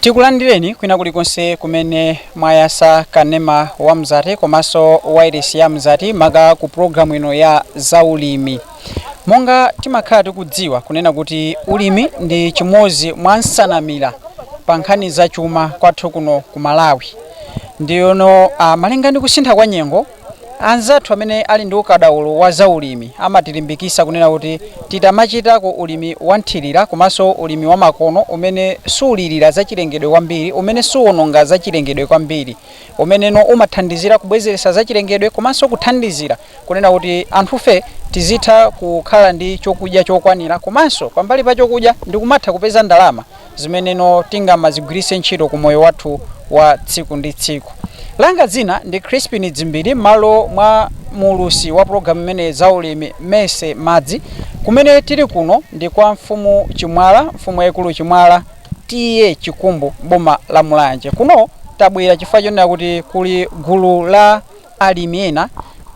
tikulandireni kwina kulikonse kumene mwayasa kanema wa mzati komanso wairesi ya mzati maka ku programu ino ya zaulimi monga timakhala tikudziwa kunena kuti ulimi ndi chimodzi mwa nsanamira pa nkhani za chuma kwathu kuno ku malawi ndiyeno uh,, malinga ndi kusintha kwa nyengo Anzathu amene ali ndi ukadaulo wa za ulimi amatilimbikisa kunena kuti tidzichitako ulimi wa mthirira komanso ulimi wa makono umene sulirira za chilengedwe kwambiri, umene suononga za chilengedwe kwambiri, umeneno umathandizira kubwezeretsa za chilengedwe komanso kuthandizira kunena kuti anthufe tizitha kukhala ndi chokudya chokwanira komanso pambali pa chokudya ndikumatha kupeza ndalama zimeneno tingamazigwiritse ntchito ku moyo wathu wa tsiku ndi tsiku langa dzina ndi crispin dzimbiri m'malo mwa muulutsi wa pulogalamu imene zaulimi mese madzi kumene tili kuno ndi kwa mfumu chimwala mfumu yaikulu chimwala TA chikumbu boma la mulanje kuno tabwera chifukwa chonena kuti kuli gulu la alimi ena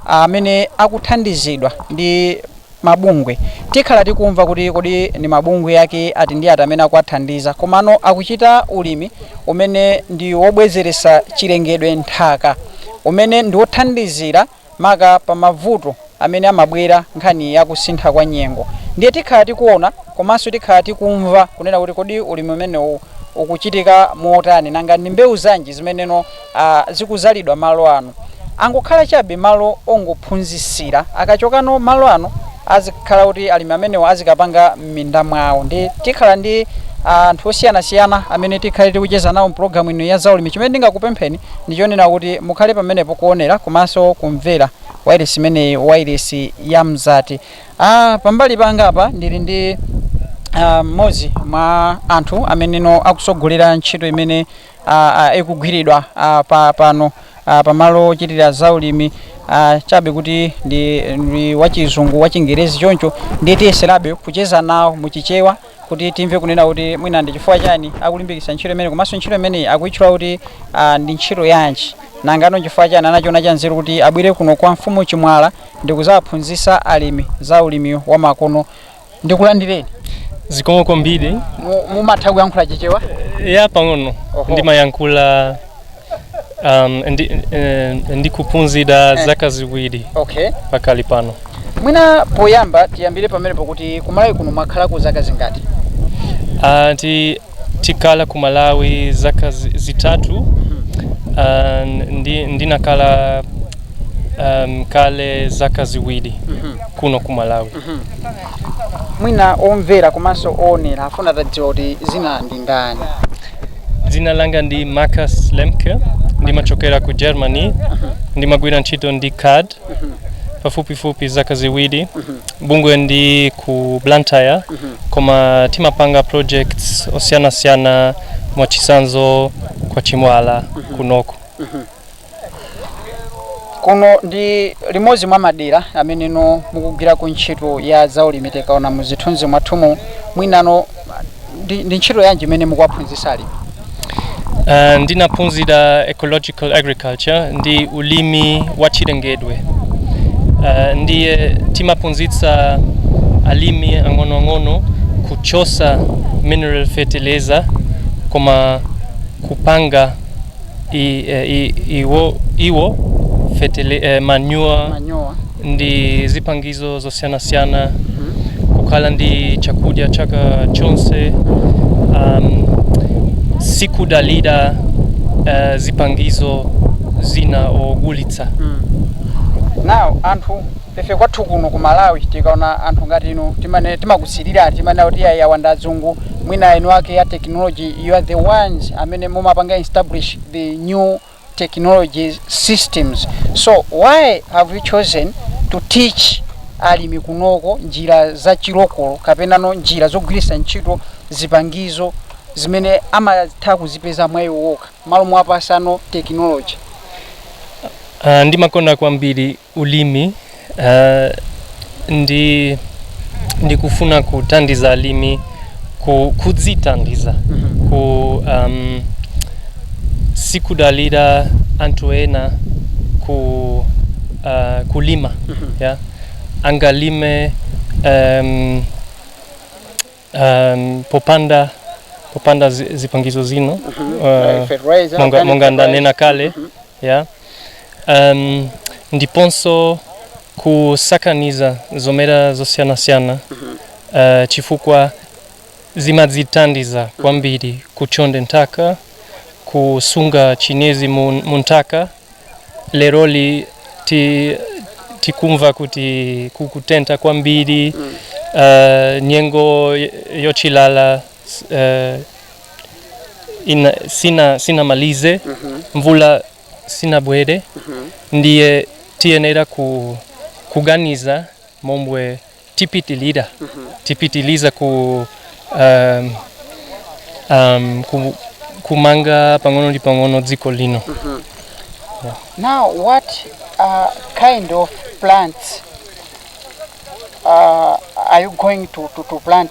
amene akuthandizidwa ndi mabungwe tikhala tikumva kuti kodi ndi mabungwe ake ati ndi ati amene akuwathandiza komano akuchita ulimi umene ndi wobwezeretsa chilengedwe nthaka umene ndi wothandizira maka pa mavuto amene amabwera nkhani ya kusintha kwa nyengo ndiye tikhala tikuona komanso tikhala tikumva kunena kuti kodi ulimi umenewu ukuchitika motani nanga ndi mbewu zanji zimeneno a zikuzalidwa malo ano angokhala chabe malo ongophunzisira akachoka pano malo ano azikhala kuti alimi amenewo azikapanga m'minda mwawo ndi tikhala ndi anthu osiyanasiyana amene tikhale tikucheza nawo mpulogalamu ino ya zaulimi chimene ndingakupempheni ndichonena kuti mukhale pamenepo kuonera komanso kumvera wailesi imeneyi wailesi ya mzati ah, pambali panga apa ndili ndi ah, mmodzi mwa anthu ameneno akusogolera ntchito imene ah, ah, ikugwiridwa ah, pa, pano ah, pamalo ochitira zaulimi ah, chabe kuti ndi, ndi wachizungu wachingerezi choncho ndiye tiyeserabe kucheza nawo muchichewa kuti timve kunena kuti mwina ndi chifukwa chani akulimbikisa ntchito imene komanso ntchito imeneyi akuitchula kuti ah, ndi ntchito yanji nangano nchifukwa chani anachiona cha nzeru kuti abwere kuno kwa mfumu chimwala ndi kuzawaphunzisa alimi za ulimi wa makono ndikulandireni zikomo kwambiri Mu- mumatha kuyankhula chichewa ya pang'ono Oho. ndimayankhula um, ndi, eh, ndikuphunzira zaka ziwiri okay pakali pano mwina poyamba tiyambire pamenepo kuti kumalawi kuno mwakhalako zaka zingati Ah, ti tikala ku malawi zaka zi- zitatu Ah, ndi, ndinakala um, kale zaka ziwiri kuno ku malawi Mwina omvera komanso oonera afuna atadziwa kuti dzina ndi ndani. Dzina langa ndi Marcus Lemke, ndimachokera ku Germany, ndimagwira ntchito ndi CAD pafupifupi zaka ziwiri. Bungwe ndi ku Blantyre, koma timapanga projects osiyanasiyana mwachisanzo kwa Chimwala kunoko. kuno ndi limodzi mwa madera ameneno mukugwirako ntchito ya zaulimi tikaona mu zithunzi mwathumu mwinano ndi, ndi ntchito yanji imene mukuwaphunzitsa alimi Uh, ndinaphunzira ecological agriculture ndi ulimi wa chilengedwe uh, ndiye timaphunzitsa alimi ang'onoang'ono kuchosa mineral fertilizer koma kupanga i, eh, i, iwo, iwo fetele, eh, manure manyowa ndi zipangizo zosiyanasiyana kukhala ndi chakudya chaka chonse um, sikudalira uh, zipangizo zina ogulitsa nawo anthu ife kwathu kuno ku malawi tikaona anthu ngati inu timane timakusilirani timanena kuti ayi awa ndi azungu mwina inu ndi eni ake a tekinoloji You are the ones amene mumapanga establish the new technology systems so why have you chosen to teach alimi kunoko njira za chilokolo kapenano njira zogwiritsa ntchito zipangizo zimene amatha kuzipeza mwa iwo okha malo mwapasano technology Uh, ndimakonda kwambiri ulimi ndi ndikufuna kuthandiza alimi kudzithandiza ku um, sikudalira anthu ena ku uh, kulima yeah? angalime um, um, popanda popanda zi- zipangizo zina uh, Fertilizer, monga, organic monga ndanena kale ya um, ndiponso kusakaniza zomera zosiyanasiyana uh, chifukwa zimadzithandiza kwambiri kuchonde nthaka kusunga chinyezi mu mu nthaka leroli tikumva kuti kukutentha kwambiri mm. uh, nyengo y- yochilala s- uh, ina, sina, sinamalize mm-hmm. mvula sinabwere mm-hmm. ndiye tiyenera ku, kuganiza momwe tipitilira tipitiliza ku um, um, ku, kumanga pang'ono ndi pang'ono dziko lino Now, what uh, kind of plants uh, are you going to, to, to plant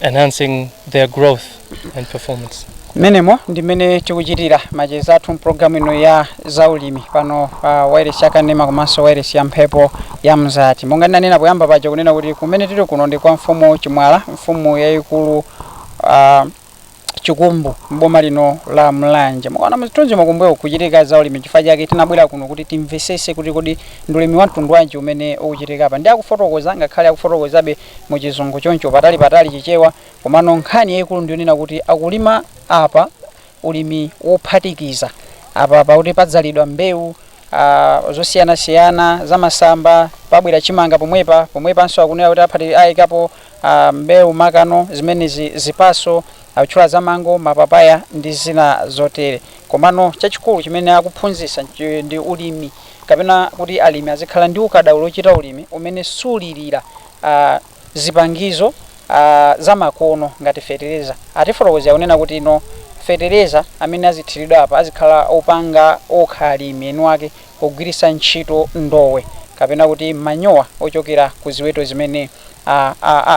enhancing their growth and performance. mmenemo ndi mmene tikuchitira macheza athu mpulogalamu ino ya zaulimi pano pa wairesi ya kanema komanso wairesi ya mphepo ya mzati monga ndinanena poyamba paja kunena kuti kumene tili kuno ndi kwa mfumu chimwala mfumu yayikulu ah, Chikumbu m'boma lino la Mulanje. Mukaona muzithunzimu kumbuyo kukuchitika za ulimi chifukwa chake tinabwera kuno kuti timvesese kuti kodi ndi ulimi wamtundu wanji umene ukuchitika apa. Ndiye akufotokoza ngakhale akufotokozabe mu chizungu choncho patali patali chichewa komano nkhani yaikulu ndiyonena kuti akulima apa ulimi wophatikiza apa pakuti padzalidwa mbewu Uh, zosiyanasiyana zamasamba pabwera chimanga pomwepa pomwepanso akunena kuti aphati ayikapo a mbewu makamakano zimenezi zipaso atchula za mango mapapaya ndi zina zotere komano chachikulu chimene akuphunzisa nchi ndi ulimi kapena kuti alimi azikhala ndi ukadaulo ochita ulimi umene sulilira a zipangizo a zamakono ngati fetereza atifotokozera kunena kuti no fetereza amene azithiridwa apa azikhala opanga okha alimi eni wake pogwiritsa ntchito ndowe kapena kuti manyowa ochokera ku ziweto zimene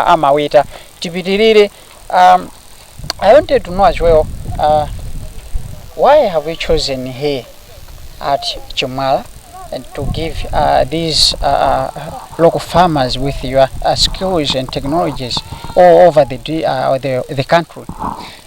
amaweta. Tipitirire, I wanted to know as well why have you chosen here at Chimwala and to give these local farmers with your skills and technologies all over the country?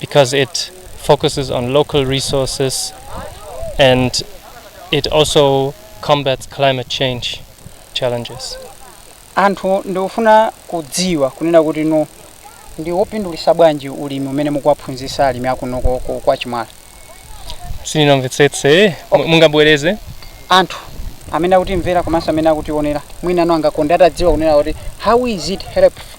because it focuses on local resources and it also combats climate change challenges. anthu ndikufuna kudziwa kunena kuti no ndi wopindulisa bwanji ulimi umene mukuwaphunzisa alimi akuno ko- ko- kwa chimwala Sininamvetsetse, mu- mungabwereze? anthu amene akutimvera komanso amene akutionera mwina no angakonde atadziwa kunena kuti how is it helpful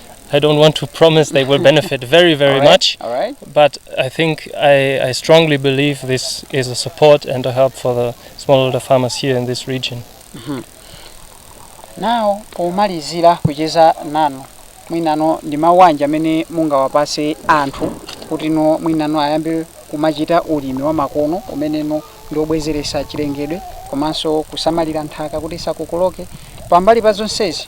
I don't want to promise they will benefit very, very much. All right. But I think I, I strongly believe this is a support and a help for the smallholder farmers here in this region. Mm -hmm. Now, pomalizira kucheza nanu mwinano ndi mawu anji amene mungawapatse anthu kuti no mwinano ayambe kumachita ulimi wa makono umeneno ndi wobwezeretsa chilengedwe komanso kusamalira nthaka kuti isakokoloke pambali pa zonsezi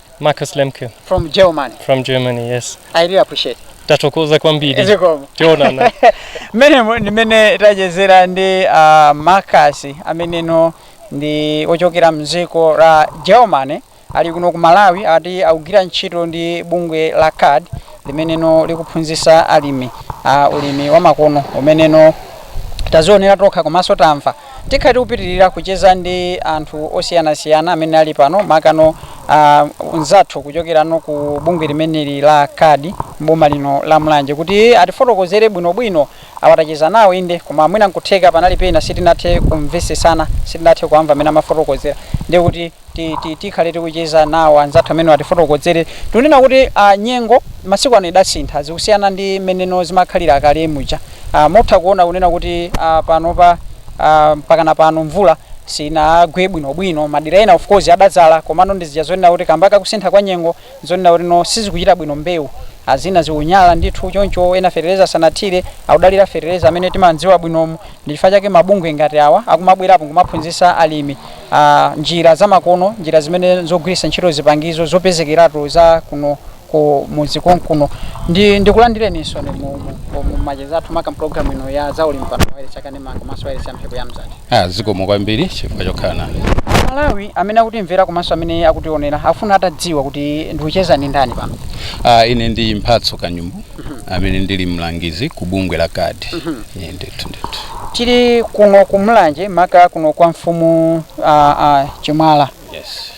Marcus Lemke from Germany. from Germany, yes. I really appreciate. Tatokoza kwambiri. Zikomo. Tionana. mmenemo ndi mmene tachezera ndi uh, marcus ameneno ndi wochokera mdziko la germany ali kuno ku malawi ati akugwira ntchito ndi bungwe la card limeneno likuphunzitsa alimi uh, ulimi wamakono umeneno tazionera tokha komanso tamva Tikhala tikupitirira kucheza ndi anthu osiyanasiyana amene ali pano makano anzathu kuchokerano ku bungwe limeneli la card m'boma lino la Mulanje kuti atifotokozere bwinobwino. Awa tacheza nawo inde koma mwina nkutheka panali pena sitinathe kumvetsetsana, sitinathe kuwamva mmene amafotokozera ndi kuti tikhale tikucheza nawo anzathu amenewa atifotokozere tikunena kuti uh, nyengo masiku ano idasintha zikusiyana ndi mmeneno zimakhalira kale muja uh, mutha kuona kunena kuti uh, panopa uh, mpakana pano mvula sinagwe bwinobwino madera ena of course adadzala komano ndizija zonena kuti kamba kakusintha kwa nyengo Nzonena kuti no sizikuchita bwino mbewu a zina zikunyala ndithu choncho ena fetereza sanathire akudalira fetereza amene timamdziwa bwinomu ndi chifukwa chake mabungwe ngati awa akumabwerapo nkumaphunzitsa alimi a njira zamakono njira zimene nzogwiritsa ntchito zipangizo zopezekeratu za kuno ku mudzi konkuno ndikulandireninso mu, mu, mu, mu macheza athu maka mpulogalamu ino ya zaulimi pano pa Wailesi ya Kanema. Mzati komanso wailesi ya mphepo ya mzati Ah, zikomo kwambiri chifukwa chokhala nane amalawi amene akutimvera komanso amene akutionera afuna atadziwa kuti ndikucheza ndi ndani pano Ah, ine ndi mphatso kanyumbu amene ndili mlangizi ku bungwe la card Inde ndithu ndithu tili kuno ku mlanje maka kuno kwa mfumu uh, uh, chimwala yes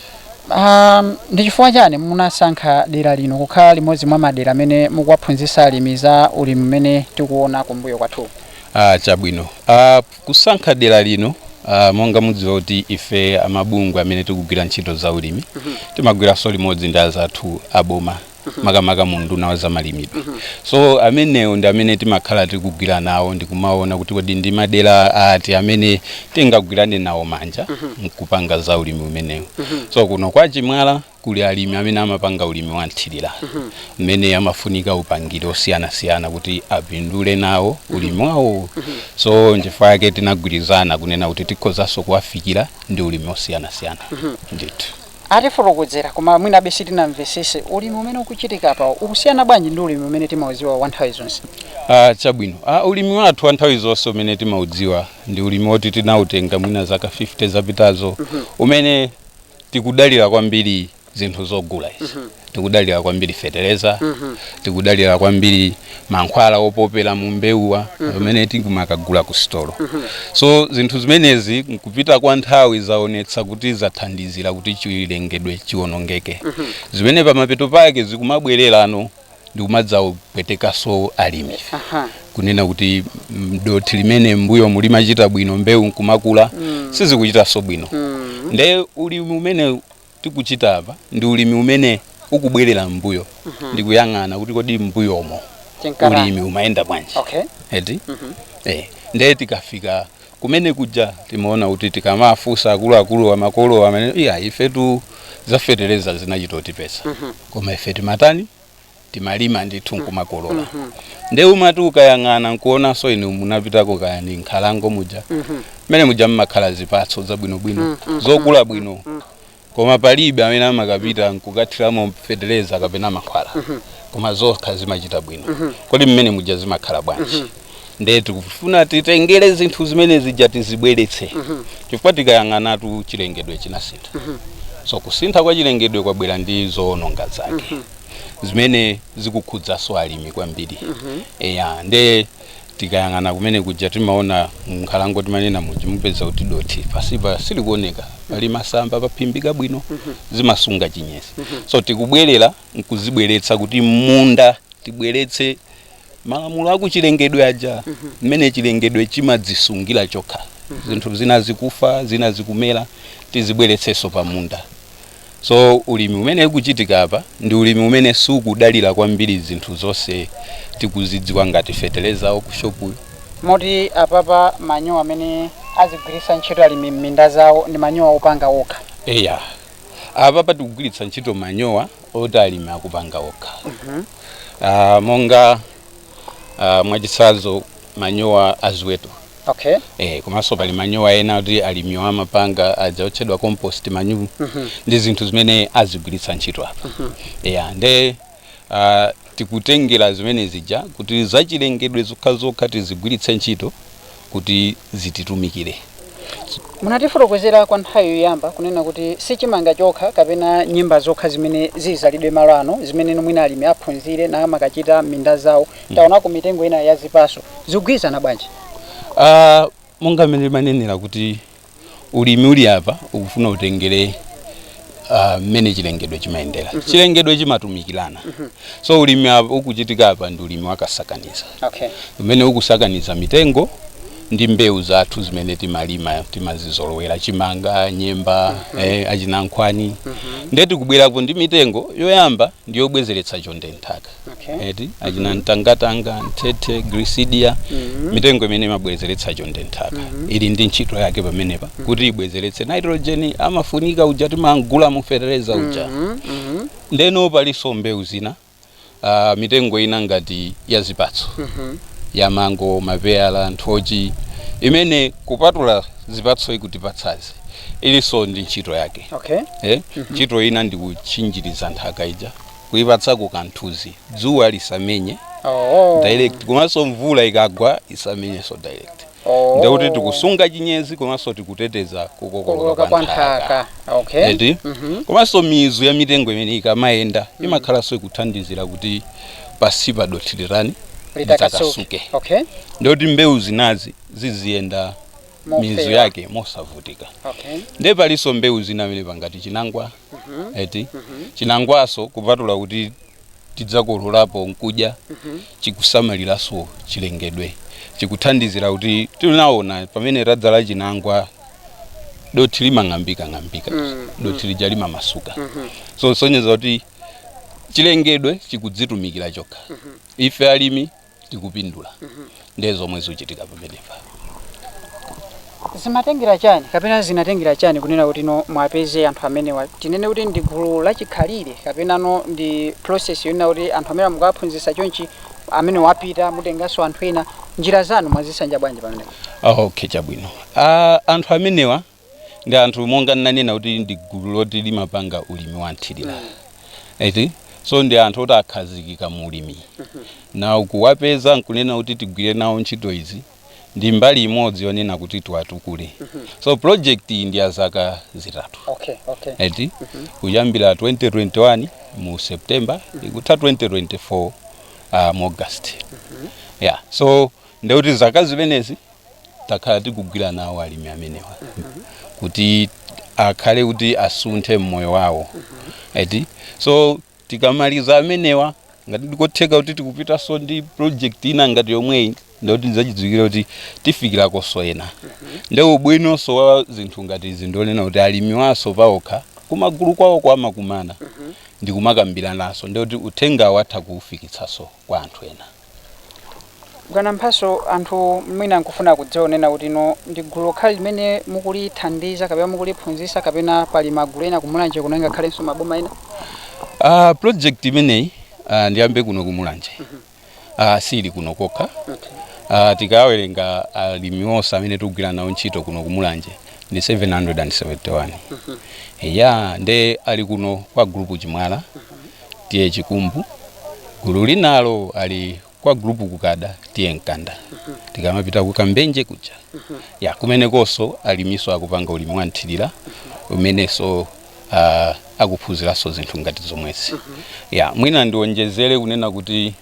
um, ndi chifukwa chani munasankha dera lino kukhala limodzi mwa madera amene mukuwaphunzitsa alimi za ulimi umene tikuona kumbuyo kwathu Ah chabwino ah kusankha dera lino ah, monga mudziwa kuti ife amabungwe amene tikugwira ntchito za ulimi timagwiranso limodzi ndi azathu aboma makamaka mu unduna wa zamalimidwe so amenewo ndi amene timakhala tikugwira nawo ndikumaona kuti kodi ndi madera ati amene tingagwirane nawo manja mkupanga za ulimi umenewo so kuno kwa chimwala Kuli alimi amene amapanga ulimi wa mthirira umene amafunika upangiri osiyanasiyana kuti apindule nawo ulimi wawo so nchifukwa chake tinagwirizana kunena kuti tikhozanso kuwafikira ndi ulimi wosiyanasiyana ndithu. Atifotokozera koma mwinabe sitinamvesese. Ulimi umene ukuchitika apawu ukusiyana bwanji ndi ulimi umene timaudziwa wa nthawi zonse? Ah chabwino ah ulimi wathu wa nthawi zonse umene timaudziwa ndi ulimi woti tinautenga mwina zaka 50 zapitazo umene. tikudalira kwambiri zinthu zogula izi tikudalira kwambiri feteleza tikudalira kwambiri mankhwala opopera mu mbewuwa pamene tikumakagula ku sitolo so zinthu zimenezi nkupita kwa nthawi zaonetsa kuti zathandizira kuti chilengedwe chiwonongeke zimene pamapeto pake zikumabwererano ndikumadzawapwetekaso alimi Aha. kunena kuti mm, dothi limene mbuyomu limachita bwino mbewu nkumakula mm. sizikuchitaso bwino mm. nde ulimi umene tikuchita apa ndi ulimi umene ukubwerera mbuyo mm -hmm. ndikuyang'ana kuti kodi mbuyomo ulimi umayenda bwanji Okay. eti eh nde tikafika Kumene kuja timaona kuti tikamawafunsa akuluakuluwa, makolowa amanena kuti iyayi ifetu za fetereza zinachita kutipeza. Koma ife timatani? Timalima ndithu n'kumakolola. Ndiye umati ukayang'ana n'kuonanso inu munapitako kaya ndi m'nkhalango muja, mmene muja m'makhala zipatso zabwinobwino, zokula bwino. koma palibe amene amakapita nkukathiramo feteleza kapena mankhwala koma zokha zimachita bwino kodi mmene muja zimakhala bwanji nde tikufuna titengere zinthu zimene zija tizibweretse chifukwa tikayang'anatu chilengedwe chinasintha so kusintha kwa chilengedwe kwabwera ndi zoononga zake zimene zikukhudzaso alimi kwambiri eya nde tikayang'ana kumene kuja timaona mnkhalango timanena muja mumpeza kuti dothi pasipa silikuoneka pali masamba paphimbika bwino zimasunga chinyezi so tikubwerera nkuzibweretsa kuti m'munda tibweretse malamulo akuchilengedwe aja mmene chilengedwe chimadzisungira chokha zinthu zina zikufa zina zikumera tizibweretseso pamunda So ulimi umene ukuchitika apa ndi ulimi umene sukudalira kwambiri zinthu zonse tikuzidziwa ngati fetereza wa kushopuyu. Moti apapa manyowa amene azigwiritsa ntchito alimi m'minda zawo ndi manyowa opanga okha? Eya. Apapa tikugwiritsa ntchito manyowa oti alimi akupanga okha. Monga mwachitsanzo manyowa a ziweto. Okay. Eh, komanso pali manyowa ena kuti alimiwo amapanga aja otchedwa compost manure ndi zinthu zimene azigwiritsa ntchito apa yeah, nde uh, tikutengera zimene zija kuti zachilengedwe zokhazokha tizigwiritse ntchito kuti zititumikire munatifotokozera kwa nthawi yoyamba kunena kuti si chimanga chokha kapena nyemba zokha zimene zizidzalidwe malo ano zimene mwina alimi aphunzire namakachita m'minda zawo taonako mitengo ina ya zipatso zikugwirizana bwanji Ah, monga mmene ndimanenera kuti ulimi uli apa ukufuna utengere ah, mmene chilengedwe chimayendera chilengedwe chimatumikirana so ulimi ukuchitika apa ndi ulimi wakasakaniza okay umene ukusakaniza mitengo ndi mbewu zathu zimene timalima timazizolowera chimanga nyemba eh, achinankhwani nde tikubwerapo ndi mitengo yoyamba ndi yobwezeretsa chonde nthaka okay. eti achina mtangatanga mthethe grisidia Mhm. mitengo imene imabwezeretsa chonde nthaka ili ndi ntchito yake pamenepa kuti ibwezeretse nitrogen amafunika uja timagula mu fertilizer uja Mhm, mhm, ndeno palinso mbewu zina ah, mitengo ina ngati ya zipatso mhm. ya mango mapeyala nthochi imene kupatula zipatso ikutipatsazi ilinso ndi ntchito yake okay. eh? ntchito ina ndikutchinjiriza nthaka ija kuipatsako kamthunzi dzuwa lisamenye Oh. direct komanso mvula ikagwa isamenyenso direct Oh. ndekuti tikusunga chinyezi komanso tikuteteza kukokoloka kukoloka kwa nthaka okay eti Mhm. komanso mizu ya mitengo imene ikamayenda imakhalanso ikuthandizira kuti pasipa dothi litani litakasuke litakasuke okay ndekuti mbewu zinazi ziziyenda mizu Mofewa. yake mosavutika okay nde palinso mbewu zina amene pangati chinangwa eti chinangwanso kupatula kuti tidzakololapo n'kudya chikusamaliranso chilengedwe chikuthandizira kuti tinaona pamene tadzala chinangwa dothi limang'ambika ng'ambika dothi lija limamasuka so sonyeza kuti chilengedwe chikudzitumikira chokha ife alimi tikupindula ndiye zomwe zikuchitika pamenepa zimatengera chani kapena zinatengera chani kunena kuti no mwapeze anthu amenewa tinene kuti ndi gulu lachikhalire kapena no ndi process yonena kuti anthu amenewa mukawaphunzitsa chonchi amenewa apita mutenganso anthu ena njira zanu mwazisanja bwanji pamenepo Ah, okay chabwino Ah, anthu amenewa ndi anthu monga nnanena kuti ndi gulu loti limapanga ulimi wa mthirira eti so ndi anthu oti akhazikika mu ulimi na kuwapeza nkunena kuti tigwire nawo ntchito izi ndi mbali imodzi yonena kuti tiwatukule so project iyi ndi ya zaka zitatu okay okay eti kuyambira 2021 mu september ikutha 2024 uh, mu august yeah so ndekuti zaka zimenezi takhala tikugwira nawo alimi amenewa kuti akhale kuti asunthe mmoyo wawo eti so tikamaliza amenewa ngati ndikotheka kuti tikupitanso ndi project ina ngati yomweyi ndikuti ndizachidziwikire kuti tifikirakonso ena nde ubwinonso wa zinthu ngati izi ndionena kuti alimi waso paokha kumagulu kwawoko amakumana ndikumakambirananso ndikuti uthengawo atha kuufikitsanso kwa anthu ena. Bwana Mphatso, anthu mwina nkufuna kudziwa kunena kuti inu ndi gulu lokhali limene mukulithandiza kapena mukuliphunzitsa kapena pali magulu ena ku Mulanje kuno ngakhalenso maboma ena? Uh, project imeneyi uh, ndiyambe kuno ku Mulanje mm -hmm. uh, sili kuno kokha okay. Uh, tikawerenga alimi uh, onse amene tikugwira nawo ntchito kuno ku Mulanje ndi 771 mm -hmm. ya nde ali kuno kwa group Chimwala mm -hmm. tiye chikumbu gulu linalo ali kwa group kukada tiye mkanda tikamapita ku kambenje kuja ya kumenekonso aliminso akupanga ulimi wa mthirira umenenso uh, akuphunziranso zinthu ngati zomwezi ya mwina ndionjezere kunena kuti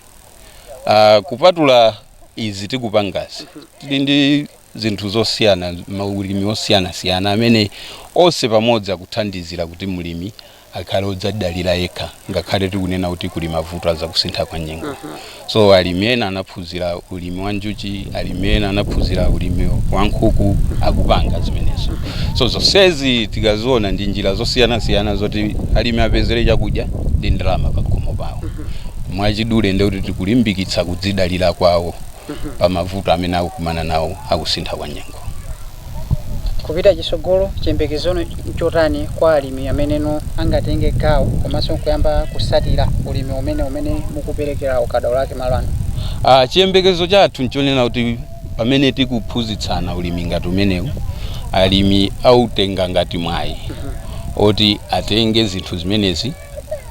uh, kupatula izi tikupangazi tili ndi zinthu zosiyana maulimi osiyanasiyana amene onse pamodzi akuthandizira kuti mlimi akhale odzadalira yekha ngakhale tikunena kuti kuli mavuto a zakusintha kwa nyengo uh -huh. so alimi ena anaphunzira ulimi wa njuchi alimi ena anaphunzira ulimi wa nkhuku akupanga zimenezo so zonsezi tikaziona ndi njira zosiyanasiyana zoti alimi apezere chakudya ndi ndalama pakhomo pawo mwachidule ndekuti tikulimbikitsa kudzidalira kwawo pa mavuto amene akukumana nawo akusintha kwa nyengo. Kupita chitsogolo chiyembekezo nchotani kwa alimi ameneno angatenge gawo komanso nkuyamba kutsatira ulimi umene umene mukuperekera ukadaulo wake malo ano? Ah, chiyembekezo chathu nchonena kuti pamene tikuphunzitsana ulimi ngati umenewu, alimi autenga ngati mwayi oti atenge zinthu zimenezi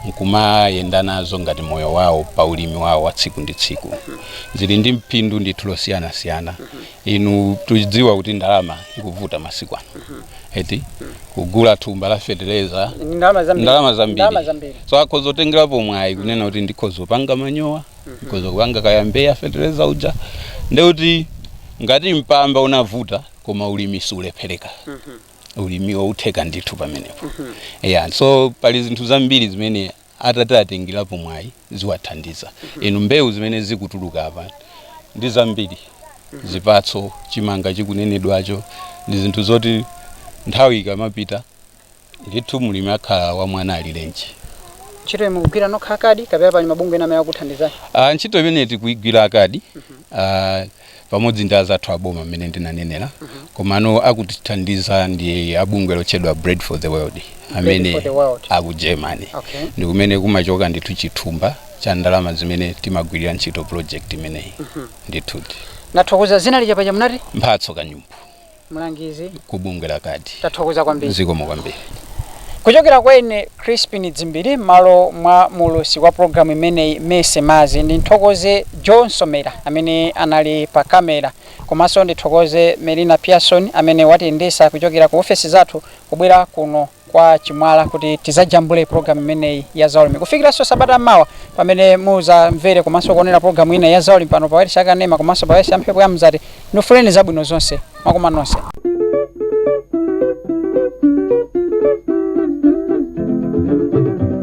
nkumayenda nazo ngati moyo wawo pa ulimi wawo wa tsiku ndi tsiku zili ndi phindu ndithu losiyanasiyana inu tudziwa kuti ndalama ikuvuta masiku ano eti kugula thumba la fetereza ndalama zambiri so akhoza kutengerapo mwayi kunena kuti ndikhoza kupanga manyowa ndikhoza kupanga kaya mbeya fetereza uja ndekuti ngati mpamba unavuta koma ulimi sulephereka ulimiwo utheka ndithu pamenepo yeah so pali zinthu zambiri zimene atati atengerapo mwayi ziwathandiza inu mbewu zimene zikutuluka apa ndi zambiri zipatso chimanga chikunenedwacho ndi zinthu zoti nthawi ikamapita ndithu mulimi akhala wa mwana alirenji ntchito mukugwira nokha a CARD kapena pali mabungwe ena amene akuthandizani Ah, ntchito imene tikuigwira a CARD ah, pamodzi ndi azathu aboma mmene ndinanenera komano akutithandiza ndi abungwe lotchedwa bread for the world amene aku germany okay. ndi kumene kumachoka ndithu chithumba cha ndalama zimene timagwirira ntchito project imeneyi mm -hmm. ndithudi nathokoza zina lija paja mnati mphatso kanyumbu mlangizi ku bungwe la kad tathokoza kwambiri zikomo kwambiri kuchokera kwa ine crispin dzimbiri m'malo mwa muulutsi wa programu imeneyi mese mazi ndithokoze john somera amene anali pa kamera komanso ndithokoze melina pearson amene watiyendesa kuchokera ku ofesi zathu kubwera kuno kwa Chimwala kuti tizajambule programu imeneyi ya zaulimi kufikiranso sabata mawa pamene muzamvere komanso kuonera programu ina ya zaulimi pano pa wailesi ya Kanema komanso pa wailesi ya mphepo ya Mzati. Ndikufunirani zabwino zonse mwakoma nonse.